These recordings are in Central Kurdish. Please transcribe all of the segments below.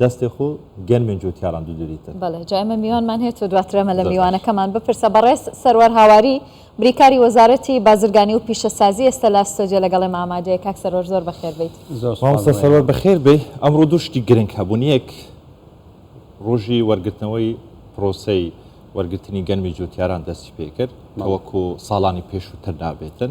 دەستێ خو گەنمێن جوتیاران دوو دوریتن. بەڵێ جا ئێمە میوانمان هەیە تۆ دواتر ئەمە لە میوانەکەمان بپرسە. بەڕێز سەروار هاواری بریکاری وەزارەتی بازرگانی و پیشەسازی ئێستا لە ستۆدیۆ لەگەڵ ئێمە ئامادەیە. کاک سەروەر زۆر بەخێر بێیت. زۆر سوپاس. مامۆستا سەروەر بەخێر بێی. ئەمڕۆ دوو شتی گرنگ هەبوون یەک ڕۆژی وەرگرتنەوەی پرۆسەی وەرگرتنی گەنمی جوتیاران دەستی پێکرد کە وەکو ساڵانی پێشووتر نابێتن.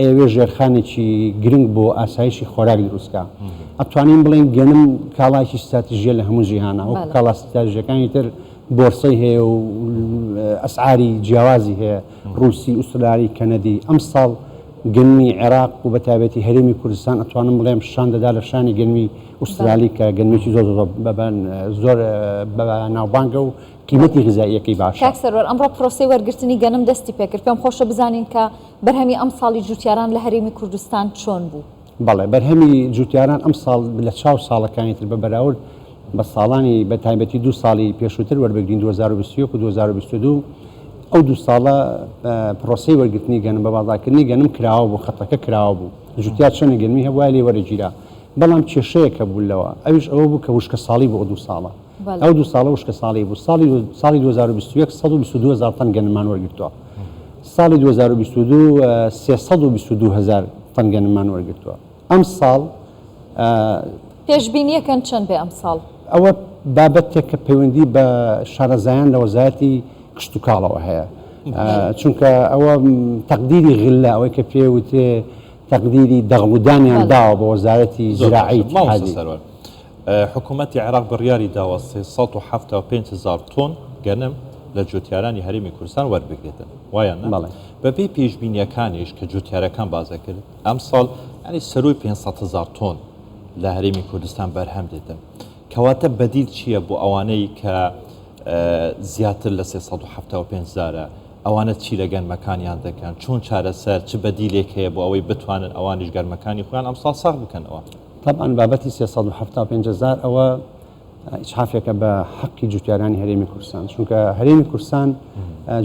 ئێوێ ژێرخانێکی گرنگ بۆ ئاسایشی خۆراک دروستکا. ئەتوانین بڵێین گەنم کاڵایکی ستراتیژیە لە هەموو جیهانا وەکو کاڵا ستراتیژەکانی تر بۆرسەی هەیە و ئەسعاری جیاوازی هەیە ڕوسی ئوستراری کەنەدی ئەم ساڵ گەنمی عێراق و بەتابەتی هەرێمی کوردستان ئەتوانم بڵێم شان دەدا لە شانی گەنمی ئوسترالی کە گەنمێکی زۆر زۆر بەبان زۆر بە ناوبانگە و قیمەتی غزاییەکەی باشە. کاک سەروەر ئەمڕۆ پرۆسەی وەرگرتنی گەنم دەستی پێکرد پێم خۆشە بزانین کە بەرهەمی ئەمساڵی جووتیاران لە هەرێمی کوردستان چۆن بوو؟ بەڵێ بەرهەمی جووتیاران ئەمساڵ لە چاو ساڵەکانی تر بە بەراورد بە ساڵانی بە تایبەتی دوو ساڵی پێشووتر وەربگرین 2021 و 2022 ئەو دوو ساڵە پرۆسەی وەرگرتنی گەنم بە بازاکردنی گەنم کراوە بوو خەتەکە کراوە بوو جووتیار چەنە گەنمی هەبووە لێ وەرەگیرا بەڵام کێشەیە کە بوو لەوە ئەوش ئەوە بوو کە وشکە ساڵی بۆ دوو ساڵە ئەو دوو ساڵە وشکە ساڵی بوو ساڵی ساڵی 2021 122 زار تەن گەنمان وەرگرتووە ساڵی دوو هەزار و بیست و دوو سێ سەد و بیست و دوو هەزار تەن گەنممان وەرگرتووە ئەمساڵ. پێشبینییەکەن چەند بێ ئەمساڵ؟ ئەوە بابەتێکە پەیوەندی بە شارەزایان لە وەزارەتی کشتوکاڵەوە هەیە چونکە ئەوە تەقدیری غلە ئەوەی کە پێ وترێ تەقدیری دەغڵودانیان داوە بە وەزارەتی زراعی سەرۆک. حکومەتی عێراق بڕیاری داوە سێ سەد و حەفتا و پێنج هەزار تۆن گەنم لە جوتیارانی هەرێمی کوردستان وەربگرێتن، وایان نا؟ بەڵێ. بەپێی پێشبینییەکانیش کە جوتیارەکان باس دەکرد، ئەمساڵ یانی سەرووی پێنج سەد هەزار تۆن لە هەرێمی کوردستان بەرهەم دێتن. کەواتە بەدیل چییە بۆ ئەوانەی کە زیاتر لە سێ سەد و حەفتا و پێنج هەزارە؟ ئەوانە چی لە گەنمەکانیان دەکەن؟ چۆن چارەسەر، چ بەدیلێک هەیە بۆ ئەوەی بتوانن ئەوانیش گەنمەکانی خۆیان ئەمساڵ ساغ بکەنەوە؟ تەبعەن بابەتی سێ سەد و حەفتا و پێنج هەزار ئەوە ئیسحافێکە بە حەقی جوتیارانی هەرێمی کوردستان چونکە هەرێمی کوردستان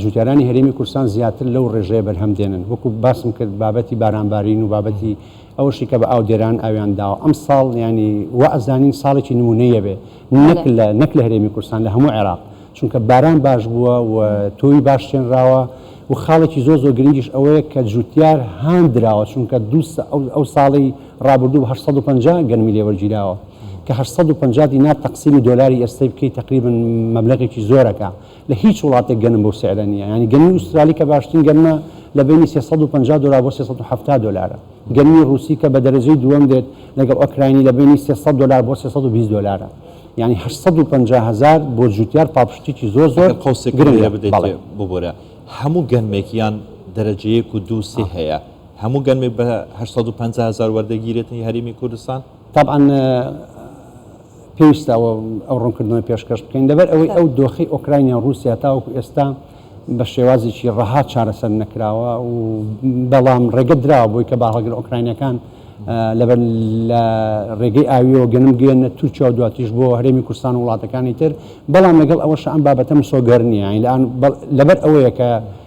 جوتیارانی هەرێمی کوردستان زیاتر لەو ڕێژەیە بەرهەم دێنن وەکو باسم کرد بابەتی بارانبارین و بابەتی ئەوشی کە بە ئاودێران ئاویان داوە ئەم ساڵ ینی و ئەزانین ساڵێکی نمونەیە بێ نەک لە نەک لە هەرێمی کوردستان لە هەموو عێراق چونکە باران باش بووە و تۆوی باش شێنراوە و خاڵێکی زۆ زۆ گرنگیش ئەوەیە کە جوتیار هاندراوە چونکە دوو ئەو ساڵی ڕابردوو هەشت سەد و پەنجا گەنمی لێ وەرگیراوە کە هەشت سەد و پەنجا دینار تەقسیمی دۆلاری ئێستەی بکەی تەقریبەن مەبلەغێکی زۆرەکە لە هیچ وڵاتێک گەنم بەو سعرە نییە یانی گەنمی ئوسترالی کە باشترین گەنمە لە بەینی سێ سەد و پەنجا دۆلار بۆ سێ سەد و حەفتا دۆلارە گەنمی ڕووسی کە بە دەرەجەی دووەم دێت لەگەڵ ئۆکراینی لە بەینی سێ سەد دۆلار بۆ سێ سەد و بیست دۆلارە یانی هەشت سەد و پەنجا هەزار بۆ جووتیار پاڵپشتیی زۆر زۆر ئەگەر قەوسێکم لێ گرنگە بدەیت بەڵێ. ببورە هەموو گەنمێک یان دەرەجە یەک و دوو و سێ هەیە؟ هەموو گەنمێک بە هەشت سەد و پەنجا هەزار وەردەگی رێتنی هەرێمی کوردستان. تەبعەن پێویستە ئەوە ئەو ڕوونکردنەوەی پێشکەش بکەین، لەبەر ئەوەی ئەو دۆخەی ئۆکراینای و ڕووسیا تاوەکو ئێستا بە شێوازێکی ڕەها چارەسەر نەکراوە و بەڵام ڕێگە دراوە بۆی کە باهەڵگر ئۆکراینەکان لەبەر لە ڕێگەی ئاویەوە گەنم گوێنە تورکیا و دواتیش بۆ هەرێمی کوردستان و وڵاتەکانی تر بەڵام لەگەڵ ئەوەش ئەم بابەتە مسۆگەر نییە لەبەر ئەوەیە کە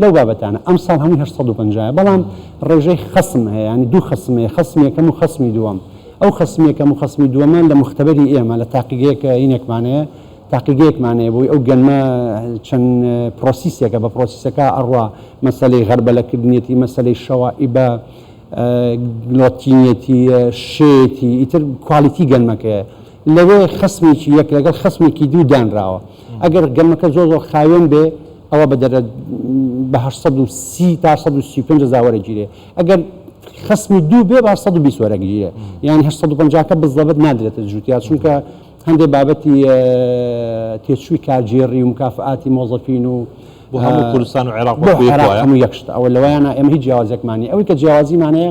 لەو بابەتانە ئەمساڵ هەمووی هەشت سەد و پەنجا یە بەڵام ڕێژەی خەسم هەیە یانی دوو خەسم هەیە خەسمی یەکەم و خەسمی دووەم ئەو خەسمی یەکەم و خەسمی دووەمە لە موختەبەری ئێمە لە تاقیگەیەک ینێکمان هەیە تاقیگەیەکمان هەیە بۆی ئەو گەنمە چەند پڕۆسیسێکە بە پڕۆسیسەکە ئەڕوا مەسەلەی غەربەلە کردنیەتی مەسەلەی شەوائیبە گڵۆتینیەتی شێتی ئیتر کوالیتی گەنمەکەیە لەوێ خەسمێکی یەک لەگەڵ خەسمێکی دوو دانراوە. ئەگەر گەمەکە زۆر زۆر خاوێن بێ ئەوە بە دەرە بە هەشت سەد و سی تا سەد و سی و پێنج هەزار وەرەگیرێ ئەگەر خەسمی دوو بێ با سەد و بیست وەرەگیرێ یان هەشت سەد و پەنجا کە بزەبت نادرێتە جووتیا چونکە هەندێ بابەتی تێچووی کارگێڕی و مکافئاتی مۆزەفین و بۆ هەموو کوردستان و عێراق بۆ بۆ عێراق وایە؟ هەموو یەک شتە ئەوە لەوەیانە ئێمە هیچ جیاوازێکمان نیە ئەوەی کە جیاوازیمانەیە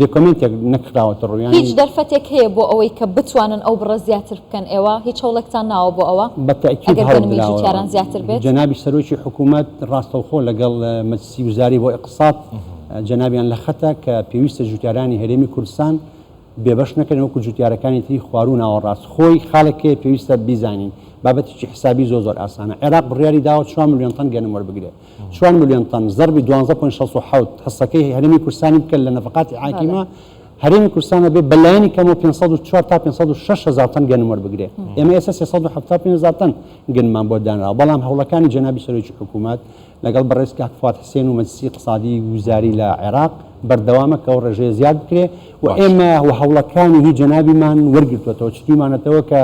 دۆکۆمێنتێک نەکراوەتە ڕوو یانی. هیچ دەرفەتێک هەیە بۆ ئەوەی کە بتوانن ئەو بڕە زیاتر بکەن؟ ئێوە هیچ هەوڵێکتان ناوە بۆ ئەوە؟ بە تەئکید ئەگەر هەوڵ گەنمی دراوە. جووتیاران زیاتر بێت؟ جەنابی سەرۆکی حکوومەت ڕاستەوخۆ لەگەڵ مەجلسی وزاری بۆ ئیقتصاد جەنابیان لە خەتە کە پێویستە جووتیارانی هەرێمی کوردستان بێبەش نەکرێن وەکوو جووتیارەکانی تری خواروو و ناوەڕاست. خۆی خاڵێک هەیە پێویستە بیزانین، بابەتێکی حسابی زۆر زۆر ئاسانە. عێراق بڕیاری داوە چوار ملیۆن تەن گەنم وەربگرێ. چوار ملیۆن تەن، زەربی دوانزە پۆینت شەست و حەوت، حسەکەی هەرێمی کورسانی بکە لە نەفەقاتی حاکیمە، هەرێمی کورسان ئەبێ بە لایەنی کەمەوە پێنج سەد و چوار تا پێنج سەد و شەش هەزار تەن گەنم وەربگرێ. ئێمە ئێستا سێ سەد و حەفتا و پێنج هەزار تەن گەنممان بۆ دانراوە، بەڵام هەوڵەکانی جەنابی سەرۆکی حکوومەت لەگەڵ بەڕێز کاک فواد حسێن و مەجلیسی ئیقتسادی وزاری لە عێراق بەردەوامە کە ئەو ڕێژەیە زیاد بکرێ و ئێمە و هەوڵەکانی هی جەنابیمان وەرگرتووەتەوە، چتوویمانەتەوە کە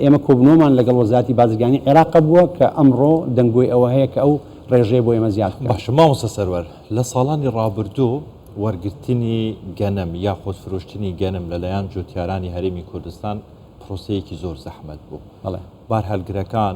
ئێمە کۆبنەوەمان لەگەڵ وەزاتی بازرگانی عێراق بووە کە ئەمڕۆ دەنگۆی ئەوە هەیە کە ئەو ڕێژەیە بۆ ئێمە زیاد باشە مامۆستا سەروەر لە ساڵانی ڕابردوو وەرگرتنی گەنم یا خۆسفرۆشتنی گەنم لەلایەن جوتیارانی هەرێمی کوردستان پرۆسەیەکی زۆر زەحمەت بوو بەڵێ بارهەلگرەکان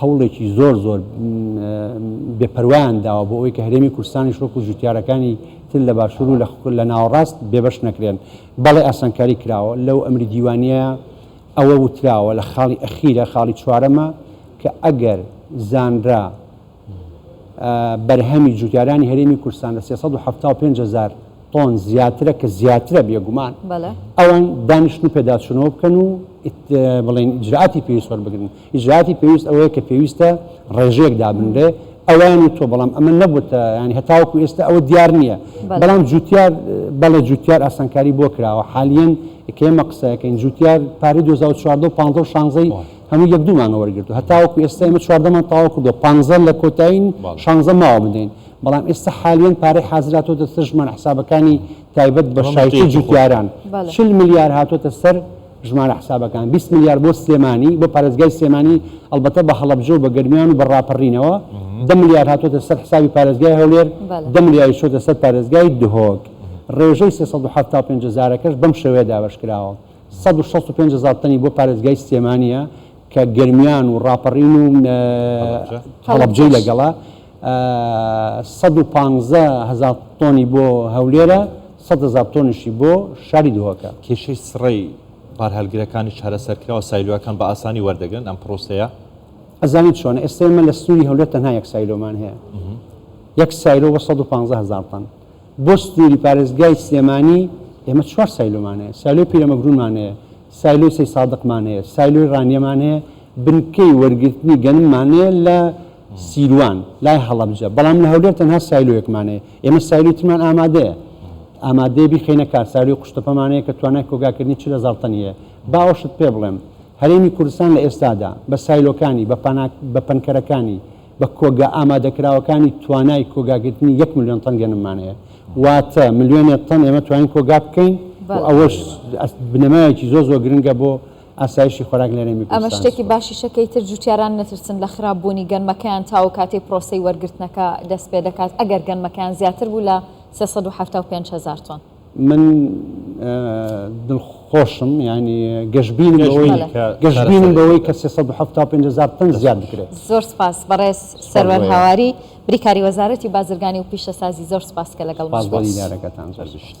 هەوڵێکی زۆر زۆر بێ پەروایان داوە بۆ ئەوەی کە هەرێمی کوردستانیش وەکو جوتیارەکانی تر لە باشوور و لە ناوەڕاست بێبەش نەکرێن. بەڵێ ئاسانکاری کراوە، لەو ئەمری دیوانییە ئەوە وتراوە لە خاڵی ئەخیرە، خاڵی چوارەمە کە ئەگەر زانرا بەرهەمی جوتیارانی هەرێمی کوردستان لە سێ سەد و حەفتا و پێنج هەزار تۆن زیاترە کە زیاترە بێگومان ئەوان دانیشتن و پێداچوونەوە بکەن و بڵێن ئیجرائاتی پێویست وەربگرن. ئیجرائاتی پێویست ئەوەیە کە پێویستە ڕێژەیەک دابنرێ ئەویان و تۆ بەڵام ئەمە نەبووتە ینی هەتاوەکو ئێستا ئەوە دیار نییە بەڵام جوتیار بەڵێ جوتیار ئاسانکاری بۆ کراوە حالیەن کێمە قسەکەین جوتیار پارەی 2014 و 15 شانزەی هەموو یەک دوومانە وەرگرت و هەتاوەکو ئێستا ئمە چواردەمان تاوا کردو پانزە لە کۆتایین شانزە ماوە بدەین بەڵام ئێستا حالیان پارەی حازراتۆ دەستژمان حسابەکانی تایبەت بە شایتی جوتیاران چل ملیار هاتۆتە سەر ژمارە حسابەکان بیست ملیار بۆ سلێمانی بۆ پارێزگای سلێمانی ئەڵبەتە بە هەڵەبجە و بە گەرمیان و بە ڕاپەڕینەوە دە ملیار هاتۆتە سەر حسابی پارێزگای هەولێر بەڵێ دە ملیاری چۆتە سەر پارێزگای دهۆک ڕێژەی 375 هەزارەکەش بەم شێوەیە دابەش کراوە 165 هەزار تەنی بۆ پارێزگای سلێمانیە کە گەرمیان و ڕاپەڕین و هەڵەبجەی هەڵەبجەش لەگەڵە سەد و پانزە هەزار تۆنی بۆ هەولێرە، سەد هەزار تۆنیشی بۆ شاری دهۆکە. کێشەی سڕەی بارهەلگرەکانیش چارەسەرکراوە، سایلۆیەکان بە ئاسانی وەردەگرن ئەم پرۆسەیە. ئەزانیت چۆنە، ئێستا ئێمە لە سنووری هەولێر تەنها یەک سایلۆمان هەیە، یەک سایلۆ بۆ سەد و پانزە هەزار تەن، بۆ سنووری پارێزگای سلێمانی ئێمە چوار سایلۆمان هەیە، سایلۆی پیرەمەگروونمان هەیە، سایلۆی سەیدسادقمان هەیە، سایلۆی ڕانیەمان هەیە، بنکەی وەرگرتنی گەنممان هەیە لە. سیروان، لای هەڵەبجە، بەڵام لە هەولێر تەنها سایلۆیەکمان هەیە، ئێمە سایلۆی ترمان ئامادەیە، ئامادەیە بیخەینە کار، سایلۆی قوشتەپەمان هەیە کە توانای کۆگاکردنی چل هەزار تەنی هەیە. با ئەوەشت پێ بڵێم، هەرێمی کوردستان لە ئێستادا بە سایلۆکانی، بە پانا، بە پەنکەرەکانی، بە کۆگا ئامادەکراوەکانی توانای کۆگاگرتنی یەک ملیۆن تەن گەنممان هەیە، واتە ملیۆنێ تەن ئێمە توانین کۆگا بکەین و ئەوەش بنەمایەکی زۆر زۆر گرنگە بۆ ئاسایشی خۆراک لە هەرێمی کوردستان سوپاس. ئەمە شتێکی باشیشە کەی تر جووتیاران نەترسن لە خراپ بوونی گەنمەکەیان تاوەک کاتەی پرۆسەی وەرگرتنەکە دەست پێ دەکات ئەگەر گەنمەکەیان زیاتر بوو لە سێ سەد و حەفتا و پێنج هەزار تۆن. من دڵخۆشم یانی گەشبینم بەوەی گەشبینی کە سەرەسەری گەشبینم بکرێت. بەوەی کە سێ سەد و حەفتا و پێنج هەزار تەن زیاد بکرێت. زۆر سوپاس بەڕێز سوپاس بۆ سەروەر ئێوە. هاواری بریکاری وەزارەتی بازرگانی و پیشەسازی زۆر سوپاس کە لەگەڵمان سوپاس بۆ بوویت. دیدارەکەتان زۆر سپاس. گشت.